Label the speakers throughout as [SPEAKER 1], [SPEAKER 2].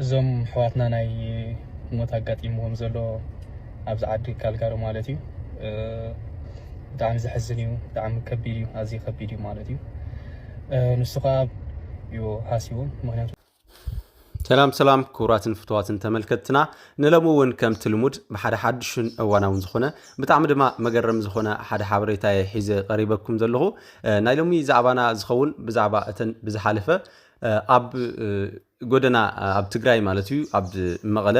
[SPEAKER 1] እዞም ኣሕዋትና ናይ ሞት ኣጋጢምዎም ዘሎ ኣብዚ ዓዲ ካልጋሪ ማለት እዩ ብጣዕሚ ዘሕዝን እዩ ብጣዕሚ ከቢድ እዩ ኣዝዩ ከቢድ እዩ ማለት እዩ ንሱ ከዓ እዩ ሃሲዎም ምክንያቱ ሰላም
[SPEAKER 2] ሰላም ክቡራትን ፍትዋትን ተመልከትና ንለሙ እውን ከምቲ ልሙድ ብሓደ ሓድሽን እዋናውን ዝኾነ ብጣዕሚ ድማ መገረም ዝኾነ ሓደ ሓበሬታ እየ ሒዘ ቀሪበኩም ዘለኹ ናይ ሎሚ ዛዕባና ዝኸውን ብዛዕባ እተን ብዝሓለፈ ኣብ ጎደና ኣብ ትግራይ ማለት እዩ ኣብ መቐለ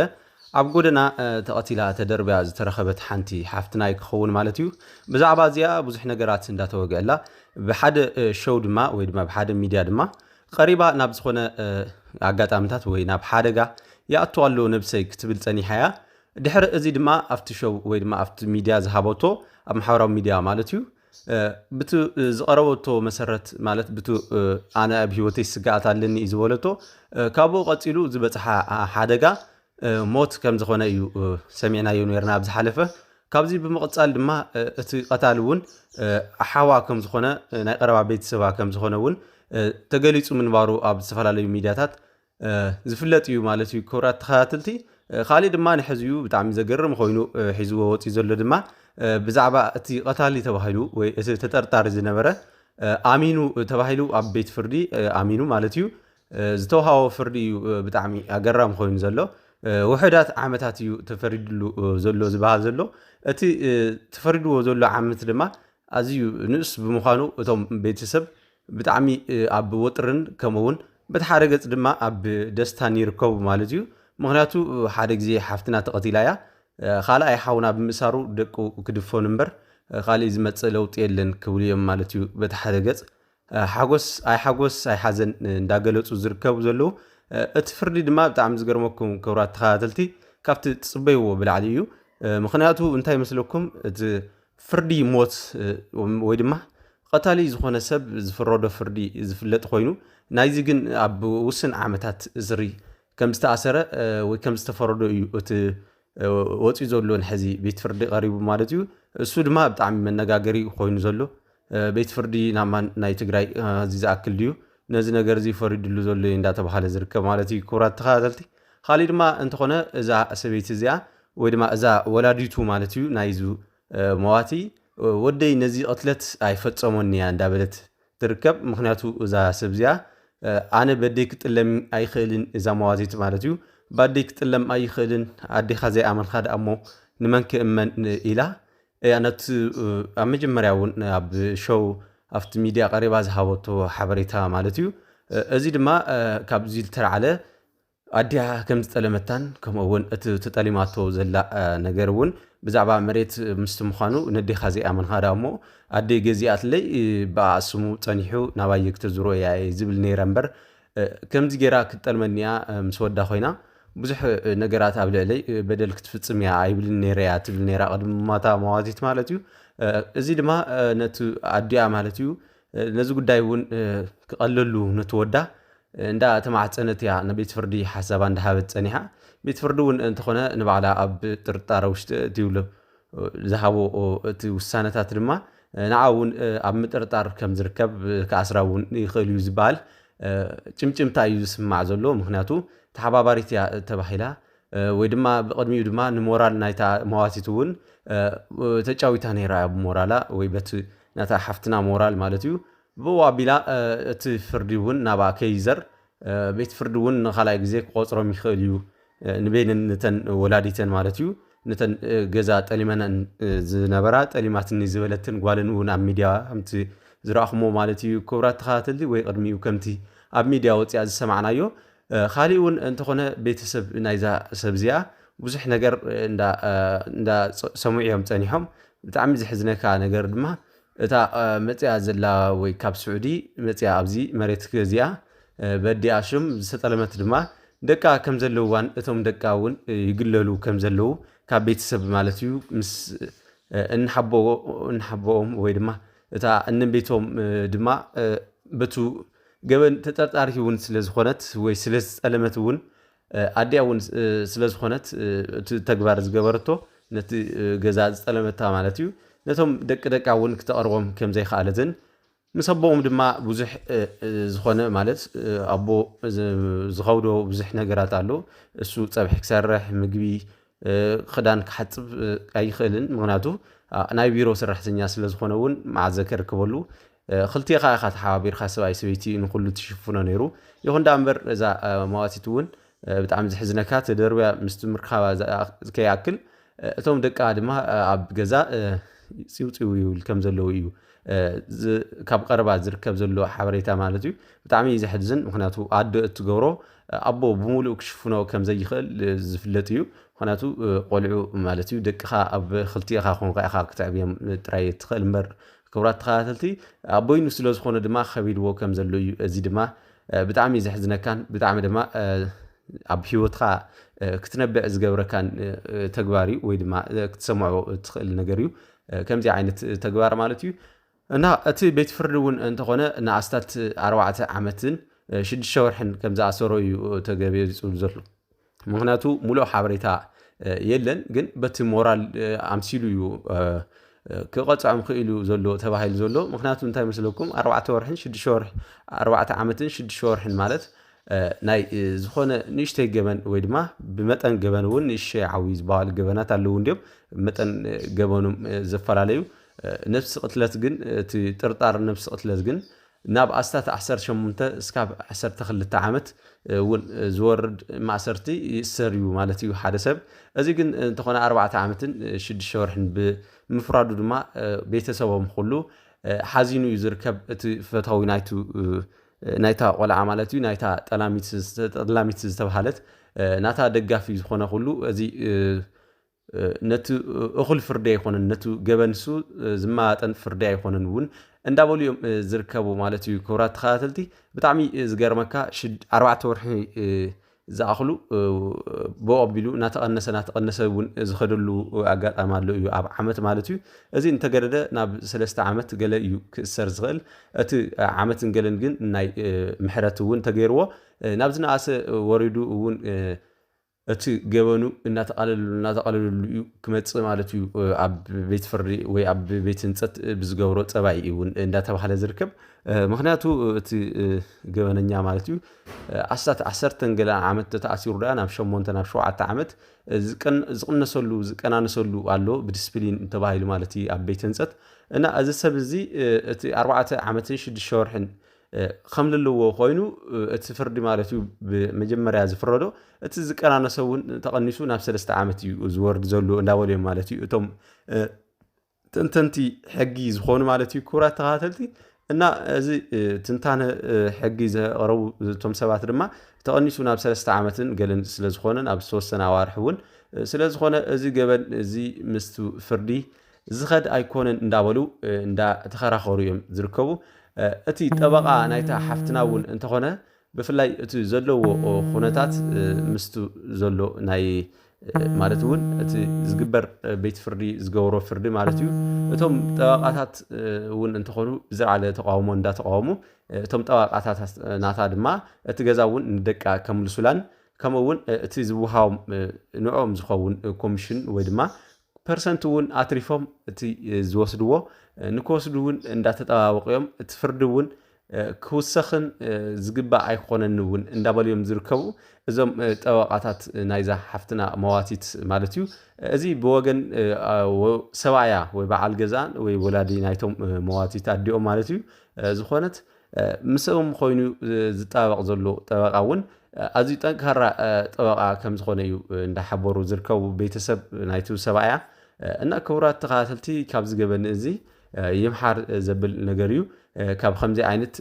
[SPEAKER 2] ኣብ ጎደና ተቐቲላ ተደርብያ ዝተረኸበት ሓንቲ ሓፍትናይ ክኸውን ማለት እዩ ብዛዕባ እዚኣ ብዙሕ ነገራት እንዳተወግአላ ብሓደ ሸው ድማ ወይ ድማ ብሓደ ሚድያ ድማ ቀሪባ ናብ ዝኾነ ኣጋጣምታት ወይ ናብ ሓደጋ ይኣቱ ኣሎ ነብሰይ ክትብል ጸኒሓ እያ ድሕሪ እዚ ድማ ኣብቲ ሸው ወይ ድማ ኣብቲ ሚድያ ዝሃበቶ ኣብ ማሕበራዊ ሚድያ ማለት እዩ ብቲ ዝቐረበቶ መሰረት ማለት ብቲ ኣነ ኣብ ህይወተይ ስግኣት ኣለኒ እዩ ዝበለቶ ካብኡ ቀፂሉ ዝበፅሓ ሓደጋ ሞት ከም ዝኾነ እዩ ሰሚዕናዮ ነርና ኣብ ዝሓለፈ ካብዚ ብምቕፃል ድማ እቲ ቀታሊ እውን ሓዋ ከም ዝኾነ ናይ ቀረባ ቤተሰባ ከም ዝኾነ እውን ተገሊፁ ምንባሩ ኣብ ዝተፈላለዩ ሚዲያታት ዝፍለጥ እዩ ማለት እዩ ክብራት ተኸታተልቲ ካሊእ ድማ ንሕዚ እዩ ብጣዕሚ ዘገርም ኮይኑ ሒዝዎ ወፂኡ ዘሎ ድማ ብዛዕባ እቲ ቀታሊ ተባሂሉ ወይ እቲ ተጠርጣሪ ዝነበረ ኣሚኑ ተባሂሉ ኣብ ቤት ፍርዲ ኣሚኑ ማለት እዩ ዝተውሃቦ ፍርዲ እዩ ብጣዕሚ ኣገራሚ ኮይኑ ዘሎ ውሕዳት ዓመታት እዩ ተፈሪድሉ ዘሎ ዝበሃል ዘሎ እቲ ተፈሪድዎ ዘሎ ዓመት ድማ ኣዝዩ ንእስ ብምዃኑ እቶም ቤተሰብ ብጣዕሚ ኣብ ወጥርን ከምኡ ውን በቲ ሓደ ገጽ ድማ ኣብ ደስታን ይርከቡ ማለት እዩ ምክንያቱ ሓደ ግዜ ሓፍትና ተቐቲላ እያ ካልኣይ ሓውና ብምእሳሩ ደቁ ክድፈኑ እምበር ካሊእ ዝመጽእ ለውጢ የለን ክብሉ እዮም ማለት እዩ በቲ ሓደ ገጽ ሓጎስ ኣይ ሓጎስ ኣይ ሓዘን እንዳገለጹ ዝርከቡ ዘለዉ እቲ ፍርዲ ድማ ብጣዕሚ ዝገርመኩም ክብራት ተኸታተልቲ ካብቲ ትጽበይዎ ብላዕሊ እዩ ምክንያቱ እንታይ መስለኩም እቲ ፍርዲ ሞት ወይ ድማ ቐታሊ ዝኾነ ሰብ ዝፍረዶ ፍርዲ ዝፍለጥ ኮይኑ ናይዚ ግን ኣብ ውስን ዓመታት እስሪ ከም ዝተኣሰረ ወይ ከም ዝተፈረዶ እዩ እቲ ወፂኡ ዘሎ ንሕዚ ቤት ፍርዲ ቀሪቡ ማለት እዩ እሱ ድማ ብጣዕሚ መነጋገሪ ኮይኑ ዘሎ ቤት ፍርዲ ናብ ናይ ትግራይ እዚ ዝኣክል ድዩ ነዚ ነገር እዚ ፈሪድሉ ዘሎ እዩ እንዳተባሃለ ዝርከብ ማለት እዩ ክቡራት ተኸታተልቲ ካሊእ ድማ እንተኾነ እዛ ሰበይቲ እዚኣ ወይ ድማ እዛ ወላዲቱ ማለት እዩ ናይዚ መዋቲ ወደይ ነዚ ቅትለት ኣይፈፀሞን እያ እንዳበለት ትርከብ ምክንያቱ እዛ ሰብ እዚኣ ኣነ በደይ ክጥለም ኣይኽእልን እዛ መዋቲት ማለት እዩ ባደይ ክጥለም ኣይኽእልን ኣዴኻ ዘይኣመንካ ደኣ እሞ ንመን ክእመን ኢላ እያ ነቲ ኣብ መጀመርያ እውን ኣብ ሾው ኣብቲ ሚድያ ቀሪባ ዝሃበቶ ሓበሬታ ማለት እዩ እዚ ድማ ካብዚ ዝተላዕለ ኣዲኣ ከም ዝጠለመታን ከምኡ እውን እቲ ተጠሊማቶ ዘላ ነገር እውን ብዛዕባ መሬት ምስቲ ምዃኑ ነዴኻ ዘይኣመንካ ዳ እሞ ኣደይ ገዚኣትለይ ብኣኣ ስሙ ፀኒሑ ናባየ ክተዝሮ እያ ዝብል ነይረ እምበር ከምዚ ጌራ ክትጠልመኒ እያ ምስ ወዳ ኮይና ብዙሕ ነገራት ኣብ ልዕለይ በደል ክትፍጽም እያ ኣይብልን ነይረ እያ ትብል ነይራ ቅድሚ ምሟታ መዋቲት ማለት እዩ እዚ ድማ ነቲ ኣዲኣ ማለት እዩ ነዚ ጉዳይ እውን ክቐለሉ ነቲ ወዳ እንዳ ተማዕፀነት እያ ንቤት ፍርዲ ሓሳባ እንዳሃበት ፀኒሓ ቤት ፍርዲ እውን እንተኾነ ንባዕላ ኣብ ጥርጣረ ውሽጢ እትብሉ ዝሃቦ እቲ ውሳነታት ድማ ንዓ እውን ኣብ ምጥርጣር ከም ዝርከብ ክኣስራ እውን ይኽእል እዩ ዝበሃል ጭምጭምታ እዩ ዝስማዕ ዘሎ ምክንያቱ ተሓባባሪት እያ ተባሂላ ወይ ድማ ብቕድሚኡ ድማ ንሞራል ናይታ መዋቲት እውን ተጫዊታ ነይራ እያ ብሞራላ ወይ በቲ ናታ ሓፍትና ሞራል ማለት እዩ ብኡ ኣቢላ እቲ ፍርዲ እውን ናብኣ ከይዘር ቤት ፍርዲ እውን ንካልኣይ ግዜ ክቆፅሮም ይኽእል እዩ ንበይነን ነተን ወላዲተን ማለት እዩ ነተን ገዛ ጠሊመነን ዝነበራ ጠሊማትኒ ዝበለትን ጓልን እውን ኣብ ሚድያ ከምቲ ዝረኣኹሞ ማለት እዩ ክብራት ተኸታተልቲ ወይ ቅድሚኡ ከምቲ ኣብ ሚድያ ወፂኣ ዝሰማዕናዮ ካሊእ እውን እንተኾነ ቤተሰብ ናይዛ ሰብ እዚኣ ብዙሕ ነገር እንዳ ሰምዑ እዮም ፀኒሖም ብጣዕሚ ዝሕዝነካ ነገር ድማ እታ መጺኣ ዘላ ወይ ካብ ስዑዲ መጺኣ ኣብዚ መሬት ገዚኣ በዲኣ ሽም ዝተጠለመት ድማ ደቃ ከም ዘለውዋን እቶም ደቃ እውን ይግለሉ ከም ዘለው ካብ ቤተሰብ ማለት እዩ ምስ እንሓቦኦም ወይ ድማ እታ እንቤቶም ድማ በቱ ገበን ተጠርጣሪት እውን ስለ ዝኾነት ወይ ስለ ዝጠለመት እውን ኣዲኣ እውን ስለ ዝኾነት እቲ ተግባር ዝገበረቶ ነቲ ገዛ ዝጠለመታ ማለት እዩ ነቶም ደቂ ደቃ እውን ክተቕርቦም ከም ዘይከኣለትን ምስ ኣቦኦም ድማ ብዙሕ ዝኾነ ማለት ኣቦ ዝኸብዶ ብዙሕ ነገራት ኣሎ እሱ ፀብሒ ክሰርሕ ምግቢ ክዳን ክሓፅብ ኣይኽእልን ምክንያቱ ናይ ቢሮ ሰራሕተኛ ስለ ዝኾነ እውን መዓዘ ከርከበሉ ክልቴኻ ኢኻ ተሓባቢርካ ሰብኣይ ሰበይቲ ንኹሉ ትሽፍኖ ነይሩ ይኹን ዳ እምበር እዛ መዋቲት እውን ብጣዕሚ ዝሕዝነካ ተደርብያ ምስ ትምርካባ ከይኣክል እቶም ደቃ ድማ ኣብ ገዛ ፂውፂው ይብል ከም ዘለዉ እዩ ካብ ቀረባ ዝርከብ ዘሎ ሓበሬታ ማለት እዩ ብጣዕሚ እዩ ዘሕዝን ምክንያቱ ኣዶ እትገብሮ ኣቦ ብምሉእ ክሽፍኖ ከም ዘይኽእል ዝፍለጥ እዩ ምክንያቱ ቆልዑ ማለት እዩ ደቅኻ ኣብ ክልቲኻ ኮንካ ኢኻ ክትዕብዮም ጥራይ እትኽእል እምበር ክቡራት ተኸታተልቲ ኣብ በይኑ ስለ ዝኾነ ድማ ከቢድዎ ከም ዘሎ እዩ እዚ ድማ ብጣዕሚ ዘሕዝነካን ብጣዕሚ ድማ ኣብ ሂወትካ ክትነብዕ ዝገብረካን ተግባር እዩ ወይ ድማ ክትሰምዖ እትኽእል ነገር እዩ ከምዚ ዓይነት ተግባር ማለት እዩ እና እቲ ቤት ፍርዲ እውን እንተኾነ ንኣስታት ኣርባዕተ ዓመትን ሽዱሽተ ወርሕን ከም ዝኣሰሮ እዩ ተገቢፁ ዘሎ ምክንያቱ ሙሉእ ሓበሬታ የለን ግን በቲ ሞራል ኣምሲሉ እዩ ክቐፅዖም ክኢሉ ዘሎ ተባሂሉ ዘሎ ምክንያቱ እንታይ መስለኩም ኣርባዕተ ወርሕን ሽዱሽተ ወርሒ ኣርባዕተ ዓመትን ሽዱሽተ ወርሕን ማለት ናይ ዝኾነ ንእሽተይ ገበን ወይ ድማ ብመጠን ገበን እውን ንእሽተይ ዓዊ ዝበሃሉ ገበናት ኣለዉ እንዲዮም መጠን ገበኖም ዘፈላለዩ ነብሲ ቅትለት ግን እቲ ጥርጣር ነብሲ ቅትለት ግን ናብ ኣስታት ዓሰርተ ሸሞንተ እስካብ ዓሰርተ ክልተ ዓመት እውን ዝወርድ ማእሰርቲ ይእሰር እዩ ማለት እዩ ሓደ ሰብ። እዚ ግን እንተኾነ ኣርባዕተ ዓመትን ሽዱሽተ ወርሕን ብምፍራዱ ድማ ቤተሰቦም ኹሉ ሓዚኑ እዩ ዝርከብ እቲ ፈታዊ ናይቱ ናይታ ቆልዓ ማለት እዩ ናይታ ጠላሚት ጠላሚት ዝተባሃለት ናታ ደጋፊ ዝኾነ ኹሉ እዚ ነቲ እኹል ፍርዲ ኣይኮነን፣ ነቲ ገበን ንሱ ዝመጣጠን ፍርዲ ኣይኮነን እውን እንዳበሉ እዮም ዝርከቡ ማለት እዩ። ክብራት ተኸታተልቲ ብጣዕሚ ዝገርመካ ኣርባዕተ ወርሒ ዝኣኽሉ ብኡ ኣቢሉ እናተቐነሰ እናተቐነሰ እውን ዝኸደሉ ኣጋጣሚ ኣሎ እዩ ኣብ ዓመት ማለት እዩ እዚ እንተገደደ ናብ ሰለስተ ዓመት ገለ እዩ ክእሰር ዝኽእል እቲ ዓመትን ገለን ግን ናይ ምሕረት እውን ተገይርዎ ናብ ዝነኣሰ ወሪዱ እውን እቲ ገበኑ እናተቓለለሉ እናተቓለለሉ እዩ ክመፅእ ማለት እዩ፣ ኣብ ቤት ፍርዲ ወይ ኣብ ቤት ህንፀት ብዝገብሮ ፀባይ እዩ እውን እንዳተባህለ ዝርከብ። ምክንያቱ እቲ ገበነኛ ማለት እዩ ኣስታት ዓሰርተን ገለ ዓመት ተተኣሲሩ ድኣ ናብ ሸሞንተ ናብ ሸውዓተ ዓመት ዝቕነሰሉ ዝቀናነሰሉ ኣሎ ብዲስፕሊን ተባሂሉ ማለት እዩ ኣብ ቤት ህንፀት እና እዚ ሰብ እዚ እቲ ኣርባዕተ ዓመትን ሽዱሽተ ወርሕን ከምልልዎ ኮይኑ እቲ ፍርዲ ማለት እዩ ብመጀመርያ ዝፍረዶ እቲ ዝቀናነሰ እውን ተቐኒሱ ናብ ሰለስተ ዓመት እዩ ዝወርድ ዘሎ እንዳበሉ እዮም ማለት እዩ እቶም ተንተንቲ ሕጊ ዝኾኑ ማለት እዩ ክቡራት ተኸታተልቲ እና እዚ ትንታነ ሕጊ ዘቕረቡ እቶም ሰባት ድማ ተቐኒሱ ናብ ሰለስተ ዓመትን ገለን ስለ ዝኾነ ናብ ዝተወሰነ ኣዋርሒ እውን ስለ ዝኾነ እዚ ገበን እዚ ምስ ፍርዲ ዝኸድ ኣይኮነን እንዳበሉ እንዳ ተኸራኸሩ እዮም ዝርከቡ። እቲ ጠበቓ ናይታ ሓፍትና እውን እንተኾነ ብፍላይ እቲ ዘለዎ ኹነታት ምስቲ ዘሎ ናይ ማለት እውን እቲ ዝግበር ቤት ፍርዲ ዝገብሮ ፍርዲ ማለት እዩ እቶም ጠበቓታት እውን እንተኾኑ ብዝለዓለ ተቃውሞ እንዳተቃወሙ እቶም ጠበቓታት ናታ ድማ እቲ ገዛ እውን ንደቃ ከምልሱላን ከምኡ እውን እቲ ዝወሃቦም ንዕኦም ዝኸውን ኮሚሽን ወይ ድማ ፐርሰንት እውን ኣትሪፎም እቲ ዝወስድዎ ንክወስዱ እውን እንዳተጠባበቑ እዮም። እቲ ፍርዲ እውን ክውሰኽን ዝግባእ ኣይኮነን እውን እንዳበሉ እዮም ዝርከቡ እዞም ጠበቓታት ናይዛ ሓፍትና መዋቲት ማለት እዩ። እዚ ብወገን ሰብኣያ ወይ በዓል ገዛኣን ወይ ወላዲ ናይቶም መዋቲት ኣዲኦም ማለት እዩ ዝኾነት ምስኦም ኾይኑ ዝጣበቕ ዘሎ ጠበቃ እውን ኣዝዩ ጠንካራ ጠበቃ ከም ዝኾነ እዩ እንዳሓበሩ ዝርከቡ ቤተሰብ ናይቲ ሰብኣያ እና ክቡራት ተኸታተልቲ ካብ ዝገበኒ እዚ ይምሓር ዘብል ነገር እዩ ካብ ከምዚ ዓይነት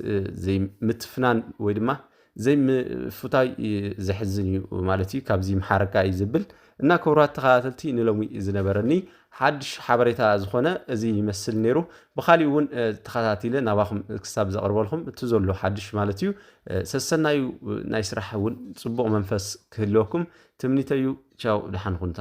[SPEAKER 2] ዘይምትፍናን ወይ ድማ ዘይ ምፍታይ ዘሕዝን እዩ ማለት እዩ ካብዚ ይምሓረካ እዩ ዝብል እና ክብራት ተኸታተልቲ ንሎሚ ዝነበረኒ ሓድሽ ሓበሬታ ዝኾነ እዚ ይመስል ነይሩ ብካሊእ እውን ተኸታቲለ ናባኹም ክሳብ ዘቕርበልኩም እቲ ዘሎ ሓድሽ ማለት እዩ ሰሰናዩ ናይ ስራሕ እውን ፅቡቕ መንፈስ ክህልወኩም ትምኒተዩ ቻው ደሓን ኩንታ